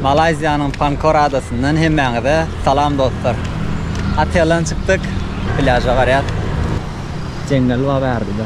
Malaýziýanyň Pankor adasyndan hemmäňize salam dostlar. Otelden çykdyk, plýaža barýas. Jeňňelli baba ärdi-de.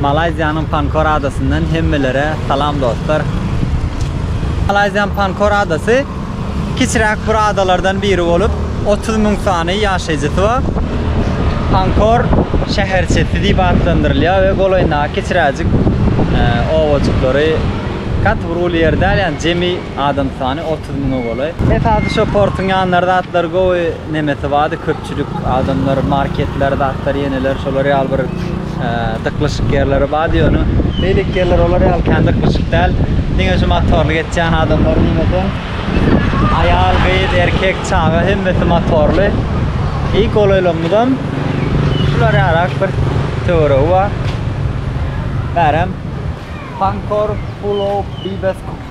Malaýziýanyň Pankor adasyndan hemmelere salam dostlar. Malaýziýanyň Pankor adasy kiçiräk bir adalardan biri bolup, otuz müň sany ýaşaýjysy bar. Pankor şäherçesi diýip atlandyrylýar we golaýyndaky kiçiräjik e, owajyklary gaty bir uly ýer däl, ýagny jemi adam sany otuz müňe golaý. Esasy şo portuň ýanynda zatlar gowy, nemesi bardy köpçülik adamlar marketler zatlar ýeneler şolar ýaly bir dyklyşyk ýerleri bardy ýöne beýleki ýerler olar ýaly kän dyklyşyk däl diňe şu motorly geçýän adamlar diýmesem aýal gyz erkek çaga hemmesi motorly i golaýlygymyzam şular ýarak bir töweregi bar bärem Pankor, Pulow, Bibes, Kup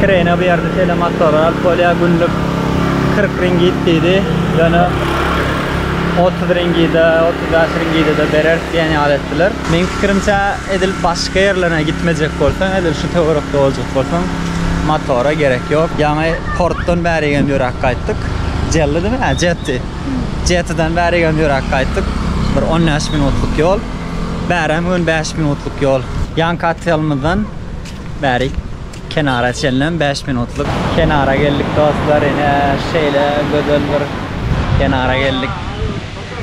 Kirene bu ýerde telemat soralyp bolýar. Günlük kyrk ringit diýdi. Ýöne otuz ringide, otuz bäş ringide-de bereris diýen ýaly etdiler. Meň pikirimçe, edil başga ýerlerine gitmejek bolsaň, edil şu töwerekde boljak bolsaň, motora gerek ýok. Ýaňy portdan bärigem ýöräp gaýtdyk. Jellidimi? Hä, Jetti. Jettiden bärigem ýöräp gaýtdyk. Bir on bäş minutlyk ýol. Bärem hem bäş minutlyk ýol. Ýaňky otellymyzdan. Bäri kenara çenlem bäş minutlyk. Kenara geldik dostlar ine şeýle gözel bir kenara geldik.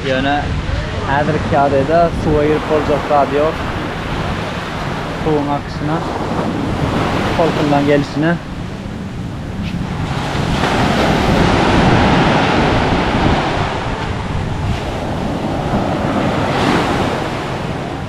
Ýöne häzirki ýagdaýda suwa girip boljak zat ýok. Suwuň akyşyna, tolkunlaň gelşine.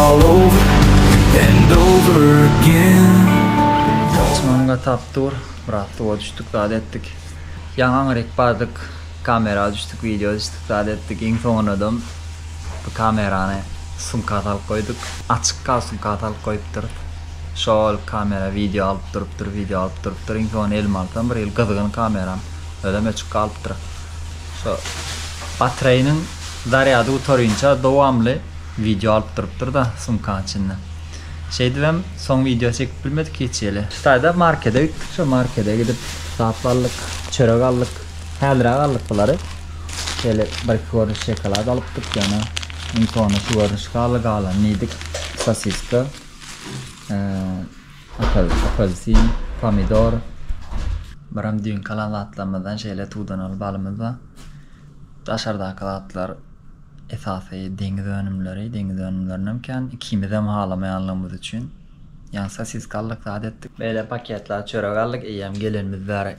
All over and over again. Çyňyň gatap dur. Biraz suwa düşdük zat etdik. Ýaňy aňyrek bardyk. Kamera düşdük wideo düşdük zat etdik. Iň soňunadam bu kamerany sumka salyp goýduk. Açyk ka sumka salyp goýupdyrys. Şol kamera wideo alyp durupdyr wideo alyp durupdyr. Iň soňunda elime alsam bir hili gyzgyn kameram. Özem öçük galypdyr. Şo batreýiniň zarýady gutarynça dowamly Wideo alyp durupdyr-da sumkanyň içinde. Şeýdibem soň wideo çekip bilmedik hiç hili. Hytaýda markede gitdik şo markede gidip zat aldyk, çörek aldyk. Häliräk aldyk bulary. Şeýle bir iki görnüş şokolad alypdyk ýöne iň soňunda şu görnüş galdy galanyny iýdik. Sosiska, apelsin, pomidor. Biram düýnki alan zatlarymyzdan şeýle tudanal balymyz bar. Daşardaky zatlar esasy deňiz önümleri, deňiz önümlerinem kän, ikimizem halamaýanlygymyz üçin ýaňy sosiska aldyk, zat etdik. Beýle paketler çörek aldyk, eýýäm gelenimiz bäri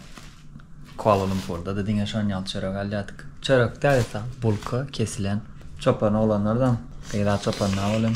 Kuala-Lumpurda-da diňe şon ýaly çörek alýardyk. Çörek däl esasy bulka, kesilen. Çopan oglanlar dam, gyzlar çopanlar welin,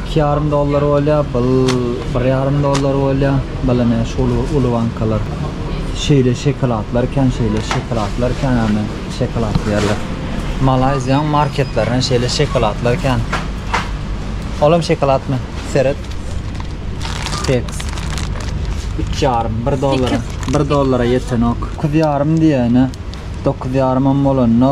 Iki ýarym dollar bolýa bul bir ýarym dollar bolýa bul ine şul uly bankalar şeýle şekelatlar kän şeýle şekelatlar kän ane şekelat diýerler malaýziýaň marketlerine şeýle şekelatlar kän olam şekelatmy seret keks üç ýarym bir dollara bir dollara ýetenok dokuz ýarym diýene dokuz ýarymam bolanda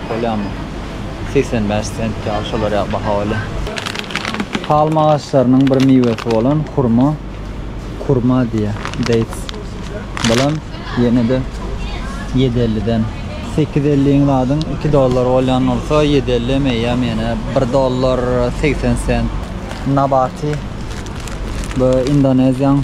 Bolýamy? Segsen bäş sent ýaly şolar ýaly baha bolýa. Palm agaçlarynyň bir miwesi bolan hurma, kurma diýýä, dates, bilen ýene-de ýedi elliden. Sekiz elliň zadyň iki dollar bolýan bolsa, ýedi ellim eýýäm ýene bir dollar segsen sent. Nabati, bu Indoneziýaň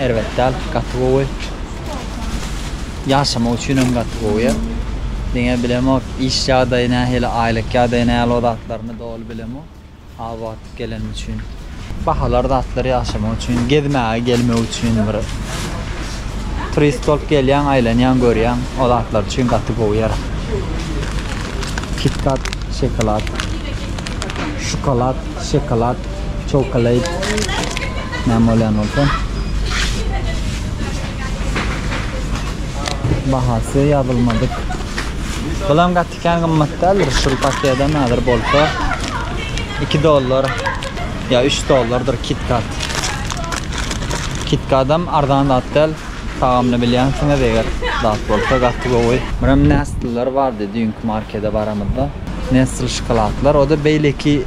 Erbet däl, gaty gowy. Ýaşamak üçin hem gaty gowy. Diňe bilemok, iş ýagdaýy nähili, aýlyk ýagdaýy nähili o zatlaryny doly bilemok. Az wagt gelenim üçin. Bahalar zatlar ýaşamak üçin, gezmäge gelmek üçin bir turist bolup gelýäň, aýlanýaň, görýäň. O zatlar üçin gaty gowy ýer. Kitkat, şokolad, şokolad. Şokolad, chocolate näme bolýan bolsa. Bahasy ýazylmadyk. Bulam gaty kän gymmat däldir. Şul pakeden hazır bolsa 2 dollar ýa 3 dollardyr KitKat. KitKadam arzan zat däl. Tagamyny bilýänsiňiz eger zat bolsa gaty gowy. Buram näsliler bardy düýnki markede baramyzda. Nestle şokoladlar, o-da beýleki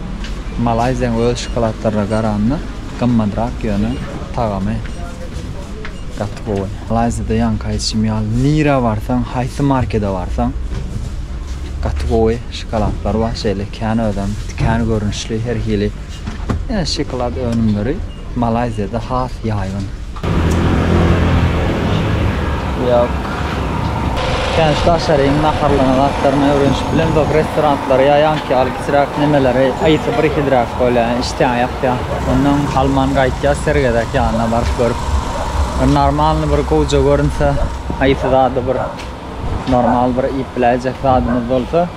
Malaýziýanyň öz şokoladlaryna garanda gymmadrak, ýöne tagamy gaty gowy. Malaýziýada ýaňky aýdyşym ýaly, nirä barsaň, haýsy markede barsaň, gaty gowy şokoladlar bar. Şeýle kän özem, kän görnüşli, her hili şokolad önümleri. Malaýziýada has ýaýgyn. Ýok. Sen şu daşaryň naharlanan zatlaryny öwrenişip bilemzok, restorantlary ýa ýanki alkisräk nemeleri, ysy birhiliräk bolýa, işdäň ýakýa. Ondan galman gaýtýas sergedäk ýanyna baryp görüp. Bir normalny bir gowja görünse, ysy zady bir normal bir iýip biläýjek zadymyz bolsa.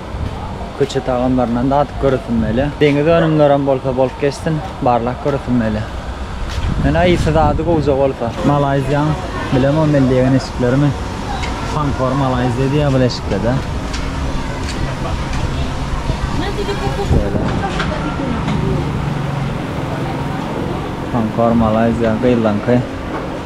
Köçe tagamlaryndan dadyp göresinmeli. Deňiz önümlerem bolsa bolup geçsin, barlap göresinmeli. Ýöne ysy zady gowja bolsa. Malaýziýaň bilem o melleýgen eşiklerimi. Sangfor Malaýziýa diýýär bul eşiklede. Şeýle. Sangfor Malaýziýa gyzlaňky.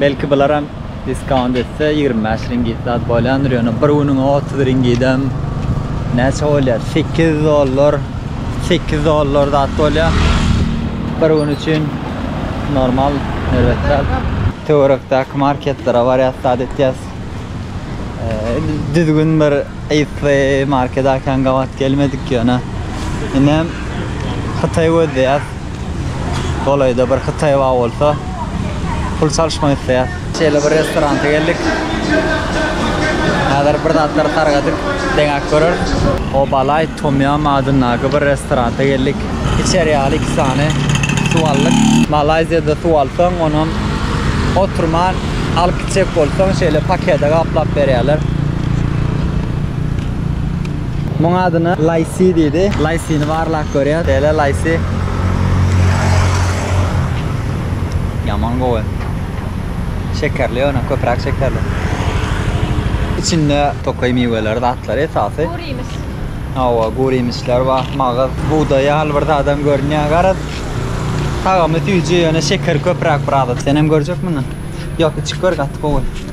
Belki bularam diskount etse ýigrimi bäş ringit zat bolýandyr ýöne bir günüňe otuz ringidem näçe bolýar sekiz dollar sekiz dollar zat bolýar bir gün üçin normal erbet däl töwerekdäki marketlere barýas zat etýäs düzgün bir yzky markeda kän gabat gelmedik ýöne inem hytaý gözleýäs Golaýda bir hytaý bar bolsa, pul çalyşmak isleýär. Şeýle bir restoranta geldik. Häzir bir zatlary sargadyp, deňäp göreris. Obalaý Tomýam adyndaky bir restoranta geldik. Içer ýaly iki sany suw aldyk. Malaýziýada suw alsaň, onam oturman alyp gitjek bolsaň, şeýle pakete gaplap berýärler. Muň adyna Laýsi diýdi. Laýsini barlap görýär. Şeýle Laýsi. Ýaman gowy. Şekerli ýöne köpräk şekerli. Içinde tokaý miweleri zatlary esasy. Gur iýmiş. Hawa gur iýmişler bar. Magyz, bugdaý ýaly bir zadam görünýär. Garaz tagamy süýji ýöne şekeri köpräk biraz. Senem görjek mundan. Ýok içip gör gaty gowy.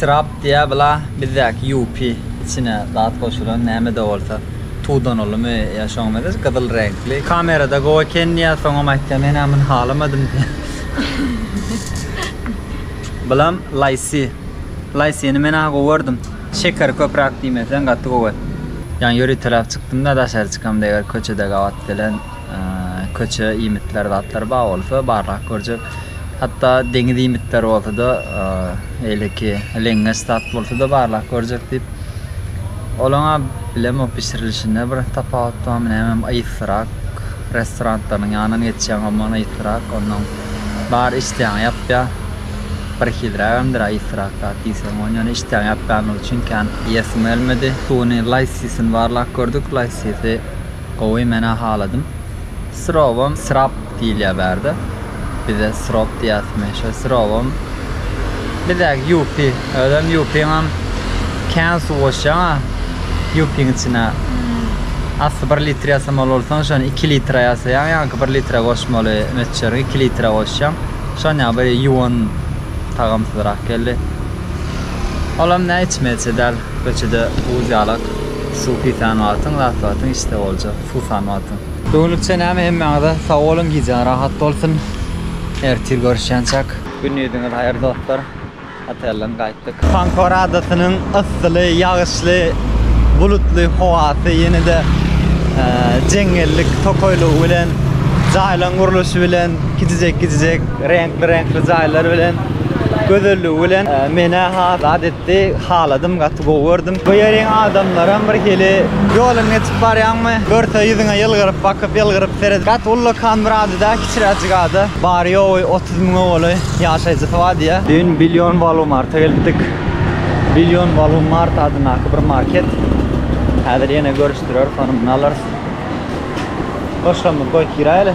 Trap diýä bla bizdäki ýupi içine zat goşulan nämede bolsa tudanalymy ýa şoňmede gyzyl reňkli. Kamerada gowy eken diýýä soňam aýtýa menä muny halamadym diýýä. Bulam laýsy. Laýsyny menä gowy gördüm. Şekeri köpräk diýmeseň gaty gowy. Ýan ýöriteläp çykdymda daşary çykamda eger köçede gabat gelen. köçe iýmitler zatlar bar bolsa barlap görjek. Hatda deňiz iýmitleri bolsa-da, eýleki leňňeç zat bolsa-da barlap görjek diýip. Olaňa bilemok bişirilişinde bir tapawut barmy nämemi ysrak restoranlarynyň ýanyndan geçýäň ondan ysrak ondan bar isleýän ýapýa. Bir hilräkemdir ysrak zat diýseň ony ýöne isleýän ýapýandygy üçin kän iýesim gelmedi. Suwuny laýsisini barlap gördük, laýsisi Gowy menä haladym. Syrowam syrap diýilýä bärde. Bize syrop diýýäs hemişe. Syrowam bizäki ýupi. Özem ýupiňem kän suw goşýaň a ýupiň içine. Asly bir litr ýasamaly bolsaň şony iki litra ýasaýaň ýaňky bir litre goşmaly möçberiň iki litre goşýaň. Şonýa bir ýuwan tagamsyzrak geldi. Olam nä içmejä däl. Köçede buz ýalak. Şu pisän wagtyň zat wagtyň işde boljak. Susan wagtyň. Bugünlikçe näme hemmäňize sag boluň gijäň rahat bolsun ertir görüşýänçäk. Gün ýüzüňiz haýyr dostlar hotelden gaýtdyk. Kankor adasynyň yssyly, ýagyşly, bulutly howasy ýene-de jeňňellik tokaýlygy bilen, jaýlaryň gurluşy bilen, kijijek-kijijek, reňkli-reňkli jaýlar bilen, gözelligi bilen menä has adyr. Gatty haladym gaty gowy gördüm. Bu ýeriň adamlaram bir hili. Ýolum geçip barýaňmy? Görse ýüzüňe ýylgyryp bakyp ýylgyryp seredip. Gaty ullakan bir ada däl kiçiräjik ada. Bary ýogy otuz müňe golaý ýaşaýjysy bar diýýär. Düýn Billion Walmarta gelipdik. Billion Walmart adyndaky bir market. Häzir ýene görüşdireris ony muny alarys. Boşlamyz goýup giraýeli.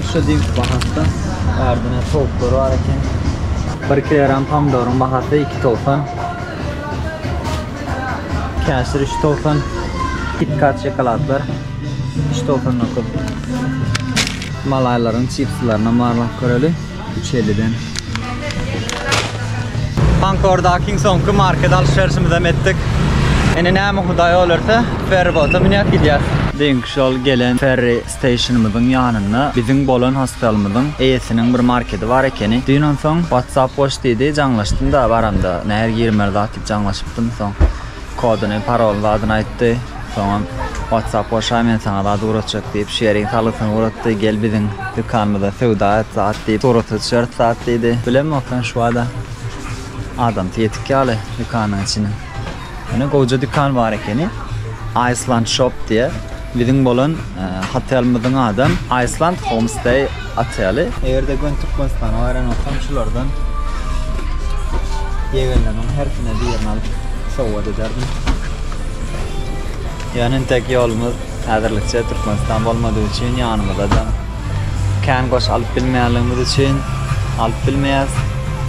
Şu düýnki bahasda bary diňe towuklar bar eken. Bir kilogram pomidoryň bahasy iki togsan. Käşir üç togsan. Kitkat şokoladlar üç togsan dokuz. Malaýlaryň çipslaryna barlap göreli. Üç elliden. Pankordaky iň soňky market alşyryşymyzam etdik. Indi näme hudaý olarsa ferribota münýäs gidýäs. Düýnki şol gelen ferri Steýşenimiziň ýanynda biziň bolan hostellimiziň eýesiniň bir markedi bar ekeni. Düýn onsoň Whatsapp goş diýdi, jaňlaşdym-da baramda. Nähili girmeli zat diýip jaňlaşypdym. Soň kodyny, paroluny zadyny aýtdy. Soňam Whatsapp goşaý men saňa zat ugratjak diýip, şu ýeriň salgysyny ugratdy. Gel biziň dükanymyzda söwda et zat diýip, surata düşeris zat diýdi. Bilemok men şubada adamsy ýetik ýaly dükanyň içini. Ene gowja dükan bar ekeni. Iceland Shop diye. Biziň bolan e, hotelimiziň adam Iceland Homestay oteli. Eger de gün Türkmenistana baran olsam şulardan yegenleriň hersine birini alyp sowgat ederdim. Yani tek yolumuz Häzirlikçe Türkmenistan bolmadygy üçin ýanymyzada kän goş alyp bilmeýänligimiz üçin alyp bilmeýäs.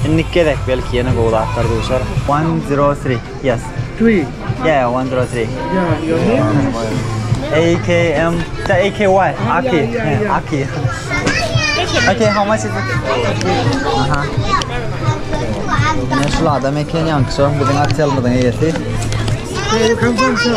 Indiki gezek belki ýene gowy zatlar duşar. One zero three yes. Three. Yeah one zero three. Yeah your name? AKM the AKY Aki Aki. Okay how much is it? Aha. Ne şu adam eken yankı şu bizim atçalımızın eyyesi. Hey, you come from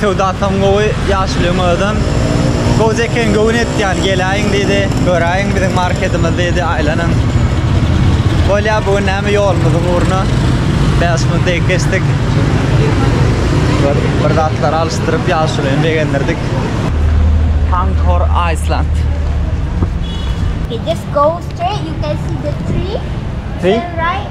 Söwdasam gowy, ýaşulyň özem gowy eken, göwün etdi ýany, geläýiň diýdi, göräýiň biziň markedimizi diýdi, aýlanyň. Bolýa bu gün näme ýolumyzyň ugruna bäş minut degip geçdik. Bir zatlar alyşdyryp ýaşulyny begendirdik. Angkor Island. Okay, just go straight, you can see the tree, turn right.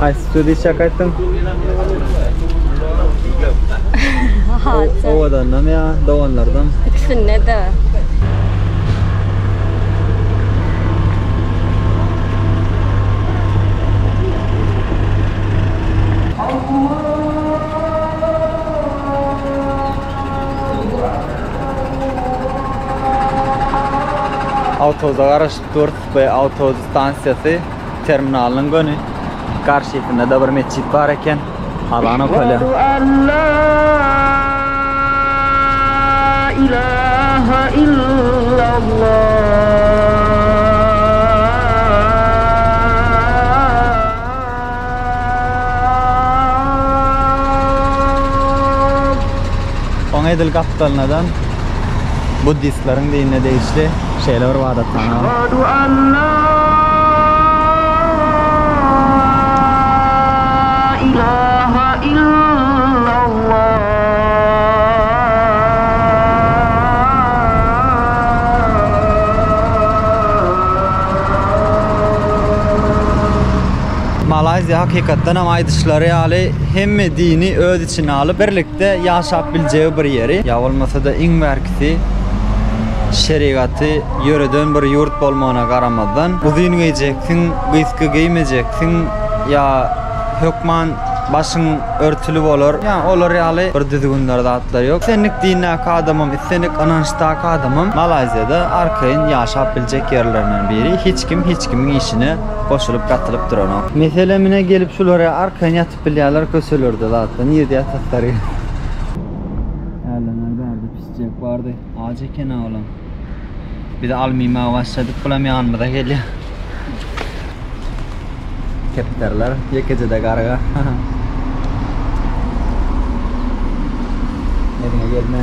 Haýsy sözi içäk aýtdyň? Owadandan ýa doganlardan? İkisinde-de. Awtobusa garaşyp durus we awtobus stansiýasy terminalynyň göni garşysynda-da bir metjit bar eken. Azan okalýar. Oň edil gapdalynadam buddistleriň dinine degişli şeýle bir ybadathana bar. Malaýziýa hakykatdan hem aýdyşlary ýaly hemme dini öz içine alyp birlikde ýaşap biljegi bir ýeri, ýa bolmasa-da iň bärkisi şerigaty ýöreden bir ýurt bolmagyna garamazdan uzyn geýjeksin, gysga geýmejeksin ýa. Hökman başyň örtüli bolar. Ýa olar ýaly bir düzgünler zatlar ýok. Islendik dindäki adamam, islendik ynançdaky adamam Malaýziýada arkaýyn ýaşap biljek ýerlerinden biri. Hiç kim hiç kimiň işine goşulyp gatylyp duranok. Mesele mine gelip şulara arkaýyn ýatyp bilýärler köçelerde zatda nirede ýatasylar gelýär. Stek bardy. Ac eken oglan. Biz almyma başladyk, bulam ýanymyza gelýär. Kepderiler, ýekejede garga. Eliňe gelme.